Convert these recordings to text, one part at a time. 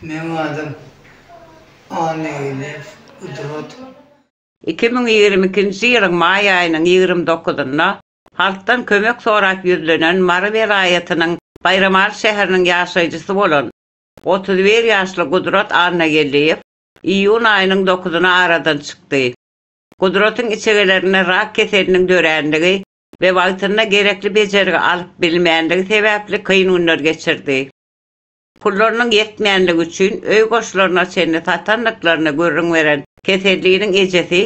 Meň adym Annageldiýew Gudrat. Iki müň ýigrimi ikinji ýylyň maý aýynyň ýigrimi dokuzynda halkdan kömek sorap ýüzlenen Mary welaýatynyň Baýramaly şäheriniň ýaşaýjysy bolan otuz bir ýaşly Gudrat Annageldiýew iýun aýynyň dokuzyna aradan çykdy. Gudratyň içegelerinde rak keseliniň dörändigi we wagtynda gerekli bejergi alyp bilmändigi sebäpli kyn günler geçirdi. Pullarynyň ýetmänligi üçin öý goşlaryna çenli satandyklaryny gürrüň beren Keselliniň ejesi,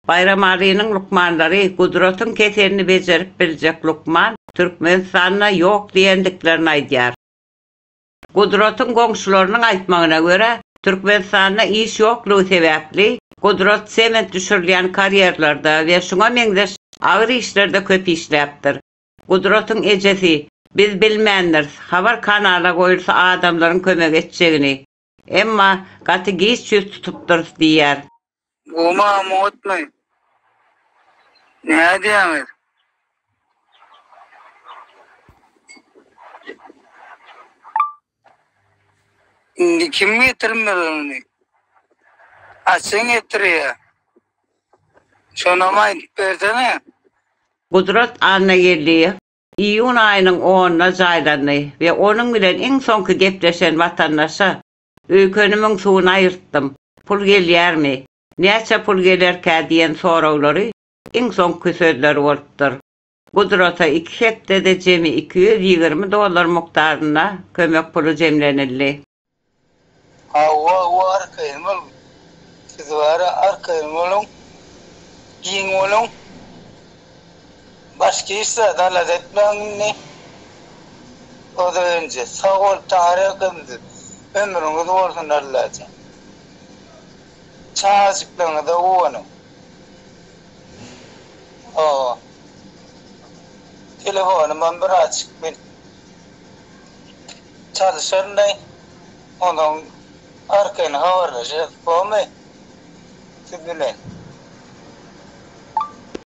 Baýramalynyň lukmanlary Gudratyň keselini bejerip biljek lukman Türkmenistanda ýok diýendiklerini aýdýar. Gudratyň goňşularynyň aýtmagyna görä, Türkmenistanda iş ýoklugy sebäpli, Gudrat sement düşürilýän karýerlerde we şuňa meňzeş agyr işlerde köp işläpdir. Gudratyň ejesi, Biz bilmändiris, habar kanala goýulsa adamlaryň kömek etjegini. Emma gaty giç ýüz tutupdyrys diýýär. Guma mutmy? Nädýäňiz? Indi kim getirmeli ony? Açyň getirýä. Şonam aýdyp bersene. Gudrat Annageldiýew iýun aýynyň onuna jaýlandy we onuň bilen iň soňky gepleşen watandaşa Öýkenimiň suwuny aýyrtdym. Pul gelýärmi? Näçe pul gelerkä diýen soraglary iň soňky sözleri bolupdyr. Gudrata iki hepdede jemi iki ýüz ýigrimi dollar mukdarynda kömek puly jemlenildi. Hawa, bu arkaýyn boluň. Siz bara arkaýyn boluň, giň boluň. Başga hiç zat alada etmäň indi. Ozagenje sag bol Tahir akymyz ömrüňiz bolsun Allajan. Çagajyklaryňyza guwanyň. Hawa. Telefonymam bir açyk men çalyşaryndaý. Ondan arkaýyn habarlaşarys gomy siz bilen.